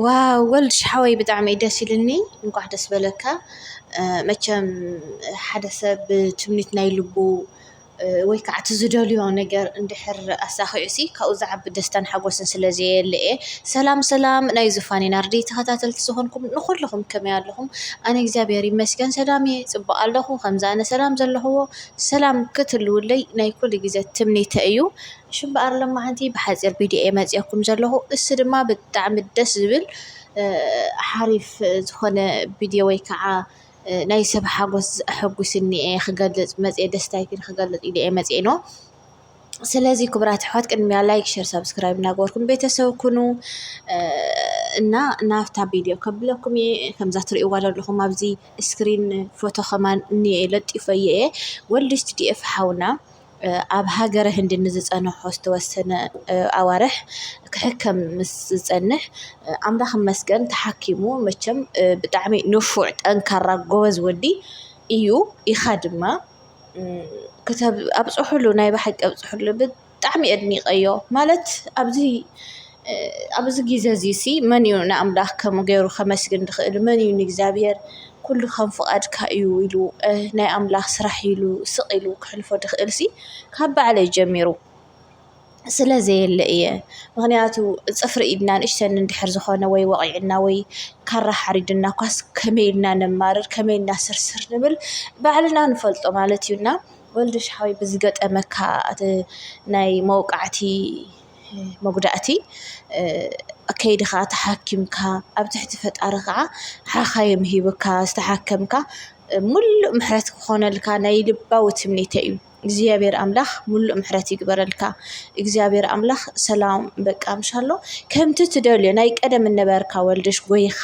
ዋው ወልድሽ ሓወይ ብጣዕሚ እዩ ደስ ኢሉኒ እንኳዕ ደስ በለካ። መቸም ሓደ ሰብ ብትምኒት ናይ ልቡ ወይ ከዓ እቲ ዝደልዮ ነገር እንድሕር ኣሳኺዑሲ ካብኡ ዝዓቢ ደስታን ሓጎስን ስለ ዘየለ እየ። ሰላም ሰላም ናይ ዙፋነይ ናርዲ ተኸታተልቲ ዝኾንኩም ንኹልኹም ከመይ ኣለኹም? ኣነ እግዚኣብሔር ይመስገን ሰላም እየ ፅቡቕ ኣለኹ። ከምዚ ኣነ ሰላም ዘለኹዎ ሰላም ክትህልዉለይ ናይ ኩሉ ግዘ ትምኒተይ እዩ። እሺ እምበኣር ሎማዓንቲ ብሓፂር ቪድዮ እየ መፂኤኩም ዘለኹ እሱ ድማ ብጣዕሚ ደስ ዝብል ሓሪፍ ዝኾነ ቪድዮ ወይ ከዓ ናይ ሰብ ሓጎስ ኣሐጉስኒ እየ ክገልፅ መፅኤ ደስታይ ግን ክገልፅ ኢለ እየ መፅኤ ኖ ስለዚ ክቡራት ኣሕዋት ቅድሚያ ላይክ ሸር ሳብስክራይብ እናገበርኩም ቤተሰብ ኩኑ እና ናብታ ቪድዮ ከብለኩም እየ ከምዛ ትሪእዋ ዘለኹም ኣብዚ ስክሪን ፎቶ ከማን እኒኤ ለጢፈዮ እየ ወልድ ስቲዲኤፍ ሓውና ኣብ ሃገረ ህንዲ ንዝጸንሖ ዝተወሰነ ኣዋርሕ ክሕከም ምስ ዝጸንሕ ኣምላኽ ይመስገን ተሓኪሙ መቸም ብጣዕሚ ንፉዕ ጠንካራ ጎበዝ ወዲ እዩ ኢኻ ድማ ኣብጽሕሉ ናይ ብሓቂ ኣብጽሕሉ ብጣዕሚ ኣድኒቀዮ ማለት ኣብዚ ኣብዚ ግዜ እዚ ሲ መን እዩ ንኣምላኽ ከምኡ ገይሩ ከመስግን ዝኽእል መን እዩ ንእግዚኣብሄር ኩሉ ከም ፍቓድካ እዩ ኢሉ ናይ ኣምላኽ ስራሕ ኢሉ ስቕ ኢሉ ከሕልፎ ዝኽእል ሲ ካብ ባዕለይ ጀሚሩ ስለ ዘየለ እየ ምኽንያቱ ፅፍሪ ኢድና ንእሽተን እንድሕር ዝኾነ ወይ ወቒዕና ወይ ካራ ሓሪድና እኳስ ከመይ ኢልና ነማርር ከመይ ኢልና ስርስር ንብል ባዕልና ንፈልጦ ማለት እዩ እና ወልድሽ ሓወይ ብዝገጠመካ ናይ መውቃዕቲ መጉዳእቲ ከይድኻ ተሓኪምካ ኣብ ትሕቲ ፈጣሪ ኸዓ ሓኻይም ሂብካ ዝተሓከምካ ሙሉእ ምሕረት ክኾነልካ ናይ ልባዊ ትምኒተይ እዩ። እግዚኣብሔር ኣምላኽ ሙሉእ ምሕረት ይግበረልካ። እግዚኣብሔር ኣምላኽ ሰላም በቃ ምሻሎ ከምቲ ትደልዮ ናይ ቀደም እነበርካ ወልድሽ ጎይኻ።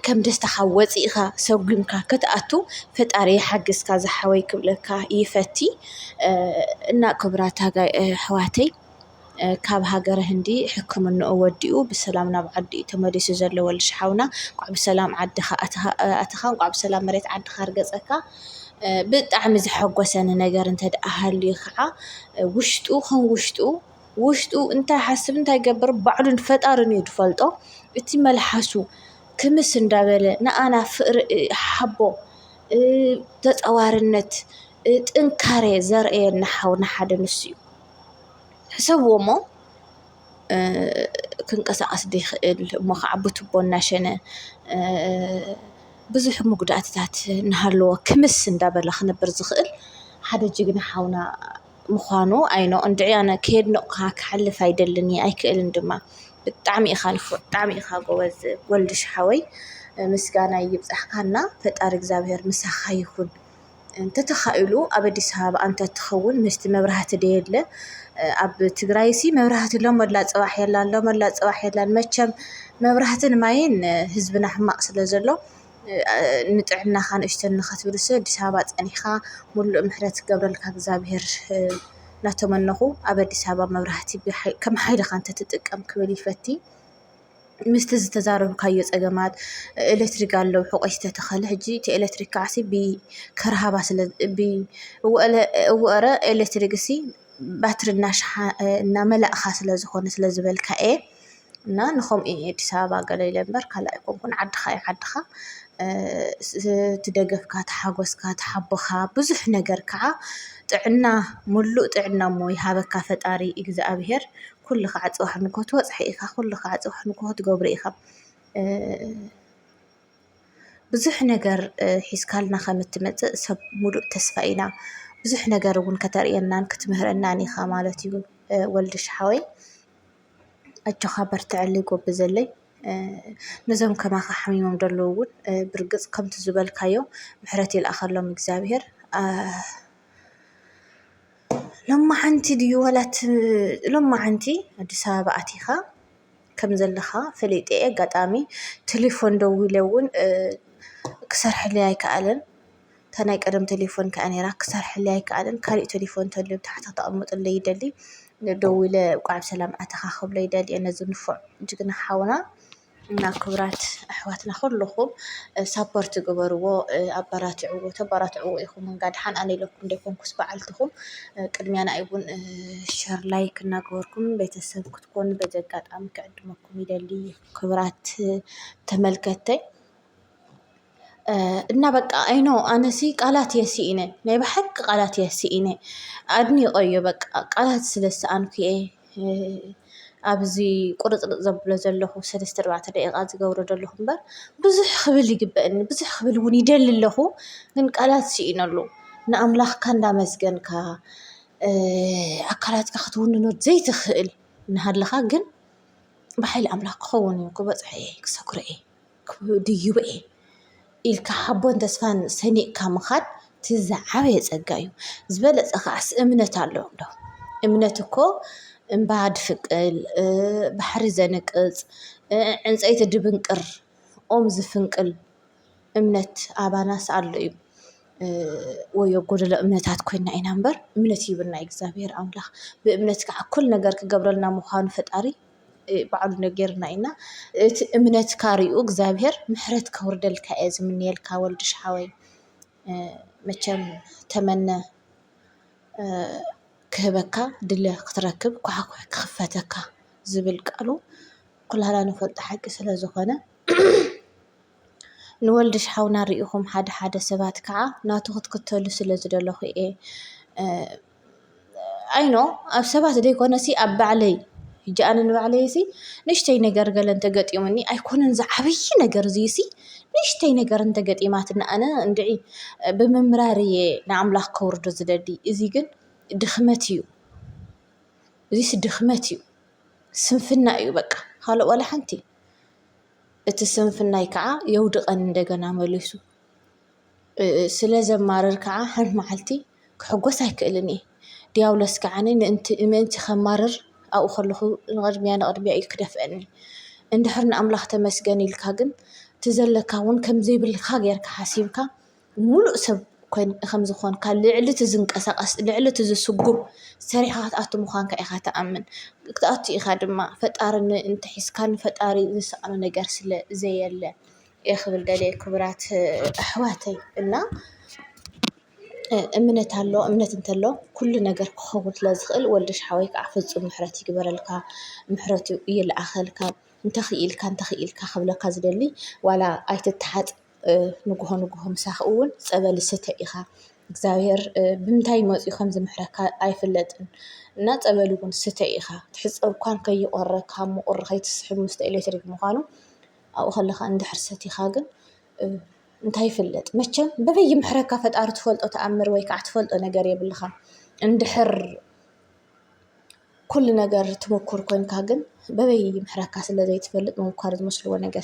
ከም ደስታኻ ወፂእኻ ሰጉምካ ክትኣቱ ፈጣሪ ይሓግዝካ ዝሓወይ ክብለካ ይፈቲ። እና ክብራት ኣሕዋተይ ካብ ሃገረ ህንዲ ሕክምንኡ ወዲኡ ብሰላም ናብ ዓዱ እዩ ተመሊሱ ዘሎ ወልድሽ ሓውና እንኳዕ ብሰላም ዓድኻ ኣተኻ እንኳዕ ብሰላም መሬት ዓድኻ ርገፀካ። ብጣዕሚ ዘሐጎሰኒ ነገር እንተደኣ ሃልዩ ኸዓ ውሽጡ ከም ውሽጡ ውሽጡ እንታይ ሓስብ እንታይ ገብር ባዕሉን ፈጣርን እዩ ዝፈልጦ እቲ መልሓሱ ክምስ እንዳበለ ንኣና ፍእሪ ሓቦ ተጸዋርነት ጥንካረ ዘርእየና ሓው ንሓደ ንሱ እዩ ሕሰብዎ እሞ ክንቀሳቐስ ዘይክእል እሞ ኸዓ ብቱቦ እናሸነ ብዙሕ መጉዳእትታት እናሃለዎ ክምስ እንዳበለ ክነብር ዝኽእል ሓደ ጅግና ሓውና ምዃኑ ኣይኖ እንድዒ ኣነ ከየድነቕኩኻ ክሓልፍ ኣይደልን እየ ኣይክእልን ድማ ብጣዕሚ ኢኻ ንፉዕ ብጣዕሚ ኢኻ ጎበዝ ወልድሽ ሓወይ ምስጋና ይብጻሕካ እና ፈጣሪ እግዚኣብሔር ምሳኻ ይኹን እንተተኻኢሉ ኣብ ኣዲስ ኣበባ እንተትኸውን ምስቲ መብራህቲ ደየለ ኣብ ትግራይሲ መብራህቲ ሎመላ ጽባሕ የላን ሎመላ ጽባሕ የላን መቸም መብራህትን ማይን ህዝብና ሕማቕ ስለ ዘሎ ንጥዕናኻ ንእሽቶ ንኸትብልሰ ኣዲስ ኣበባ ጸኒሕኻ ምሉእ ምሕረት ክገብረልካ እግዚኣብሔር ናተመነኹ ኣብ ኣዲስ ኣበባ መብራህቲ ከም ሓይልኻ እንተትጥቀም ክብል ይፈቲ ምስቲ ዝተዛረብካዮ ጸገማት ኤለትሪክ ኣሎ ሑቆ ዝተተኸለ ሕጂ እቲ ኤለትሪክ ከዓሲ ብከርሃባ ስለ እወ'ረ ኤለትሪክሲ ባትሪ እናመላእኻ ስለ ዝኾነ ስለ ዝበልካ እየ። እና ንኸምኡ እየ ኣዲስ ኣበባ ገለ ኢለ እምበር ካልእ ኣይኮንኩን ዓድኻ እዩ ዓድኻ እቲ ደገፍካ እቲ ሓጎስካ እቲ ሓቦኻ ብዙሕ ነገር ከዓ ጥዕና ሙሉእ ጥዕና እሞ ይሃበካ ፈጣሪ እግዚኣብሄር ኩሉ ከዓ ፅባሕ ንግሆ ትበፅሖ ኢኻ ኩሉ ከዓ ፅባሕ ንግሆ ትገብሮ ኢኻ። ብዙሕ ነገር ሒዝካልና ከም እትመፅእ ሰብ ሙሉእ ተስፋ ኢና ብዙሕ ነገር እውን ከተርእየናን ክትምህረናን ኢኻ ማለት እዩ ወልድሽ ሓወይ። ኣጆኻ በርትዐለይ ጎብዘለይ ነዞም ከማኻ ሓሚሞም ደለዉ ውን ብርግጽ ከምቲ ዝበልካዮ ምሕረት ይልኣኸሎም እግዚኣብሄር ሎማዓንቲ ድዩ ዋላ እቲ ሎማዓንቲ ኣዲስ ኣበባ ኣቲኻ ከም ዘለኻ ፈሊጠ እየ ኣጋጣሚ ተሌፎን ደዊለ ውን ክሰርሕለይ ኣይከኣለን። እታ ናይ ቀደም ተሌፎን ከኣ ኔራ ክሰርሐለይ ኣይከኣለን ካሊእ ተሌፎን ተሎ ኣብ ታሕቲ ክተቅምጥለይ ይደሊ ደዊለ እንኳዕ ብሰላም ኣተኻ ክብሎ ይደሊ እየ ነዚ ንፉዕ ጅግና ሓውና እና ክብራት ኣሕዋትና ኩሉኹም ሳፖርት ግበርዎ ኣባራትዕዎ ተባራትዕዎ ኢኹም እንጋ ድሓን ኣነ ኢለኩም ደይኮንኩስ በዓልትኹም ቅድሚያ ንኣይ እውን ሸር ላይክ እናገበርኩም ቤተሰብ ክትኮኑ በዚ ኣጋጣሚ ክዕድመኩም ይደሊ ክብራት ተመልከተይ እና በቃ ኣይኖ ኣነሲ ቃላት እየ ስኢነ ናይ ብሓቂ ቃላት እየ ስኢነ ኣድኒቀዮ በቃ ቃላት ስለ ዝሰኣንኩ እየ ኣብዚ ቁርፅርፅ ዘብሎ ዘለኹ ሰለስተ ኣርባዕተ ደቂቃ ዝገብሮ ዘለኹ እምበር ብዙሕ ክብል ይግበኣኒ ብዙሕ ክብል እውን ይደሊ ኣለኹ ግን ቃላት ስኢነሉ ንኣምላኽካ እንዳመስገንካ ኣካላትካ ክትውንኖ ዘይትኽእል እናሃለኻ ግን ብሓይሊ ኣምላኽ ክኸውን እዩ ክበፅሖ እየ ክሰግሮ እየ። ድዩበኤ ኢልካ ሓቦን ተስፋን ሰኒቕካ ምኻድ እቲ ዝዓበየ ፀጋ እዩ። ዝበለፀ ከዓስ እምነት ኣሎ እንዶ እምነት እኮ እምባ ድፍቅል ባሕሪ ዘንቅፅ ዕንፀይቲ ድብንቅር ኦም ዝፍንቅል እምነት ኣባናስ ኣሎ እዩ። ወዮ ጎደሎ እምነታት ኮይና ኢና እምበር እምነት ሂቡና እዩ እግዚኣብሄር ኣምላኽ ብእምነት ከዓ እኩል ነገር ክገብረልና ምዃኑ ፈጣሪ። ባዕሉ ነገርና እዩ እና እቲ እምነትካ ሪኡ እግዚኣብሔር ምሕረት ከውርደልካ እየ ዝምነየልካ ወልድሽ ሓወይ። መቸም ተመነ ክህበካ ድለ ክትረክብ ኳሕዂሒ ክኽፈተካ ዝብል ቃሉ ኩላትና ንፈልጦ ሓቂ ስለ ዝኾነ። ንወልድሽ ሓውና ሪኢኹም ሓደ ሓደ ሰባት ከዓ ናቱ ክትክተሉ ስለ ዝደለኹ እየ። ኣይኖ ኣብ ሰባት ዘይኮነሲ ኣብ ባዕለይ ሕጂ ኣነ ንባዕለይሲ ንእሽተይ ነገር ገለ እንተገጢሙኒ ኣይኮነን ዝዓብይ ነገር እዙይሲ ንእሽተይ ነገር እንተገጢማትና ኣነ እንድዒ ብምምራር እየ ንኣምላኽ ከውርዶ ዝደሊ እዚ ግን ድኽመት እዩ እዙይሲ ድኽመት እዩ ስንፍና እዩ በቃ ኻልእ ዋላ ሓንቲ እቲ ስንፍናይ ከዓ የውድቀኒ እንደገና መሊሱ። ስለ ዘማርር ከኣ ሓንቲ መዓልቲ ክሕጐስ ኣይክእልን እየ። ድያብሎስ ከኣ ምእንቲ ኼማርር ኣብኡ ኸለኹ ንቕድሚያ ንቕድሚያ ኢሉ ኺደፍኣኒ። እንድሕር ንኣምላኽ ተመስገን ኢልካ ግን እቲ ዘለካ እውን ከም ዘይብልካ ጌርካ ሓሲብካ ምሉእ ሰብ ከም ዝዀንካ ልዕሊ እቲ ዝንቀሳቐስ ልዕሊ እቲ ዝስጕም ሰሪሕኻ ክትኣቱ ምዃንካ ኢኻ ትኣምን። ክትኣቱ ኢኻ ድማ ፈጣሪ እንተ ሒዝካ ንፈጣሪ ዝስኣኖ ነገር ስለ ዘየለ። እየ ክብል ደልየ ክቡራት ኣሕዋተይ እና እምነት ኣሎ እምነት እንተሎ ኩሉ ነገር ክኸውን ስለ ዝኽእል ወልደሽ ሓወይ ከዓ ፍፁም ምሕረት ይግበረልካ ምሕረቱ ይልኣኸልካ እንተኽኢልካ እንተኽኢልካ ክብለካ ዝደሊ ዋላ ኣይትተሓፅ ንግሆ ንግሆ ምሳኻ እውን ፀበል ስተ ኢኻ እግዚኣብሔር ብምንታይ መፂኡ ከም ዝምሕረካ ኣይፍለጥን እና ፀበል እውን ስተ ኢኻ ትሕፀብ እኳ ከይቖረካ ምቑር ከይትስሕብ ምስቲ ኤሌክትሪክ ምዃኑ ኣብኡ ከለኻ እንድሕር ሰቲኻ ግን እንታይ ይፍለጥ መቸም በበይ ይምሕረካ ፈጣሪ ትፈልጦ ተኣምር ወይ ከዓ ትፈልጦ ነገር የብልኻን። እንድሕር ኩሉ ነገር ትምኩር ኮይንካ ግን በበይ ይምሕረካ ስለ ዘይትፈልጥ ምምኳር ዝመስልዎ ነገር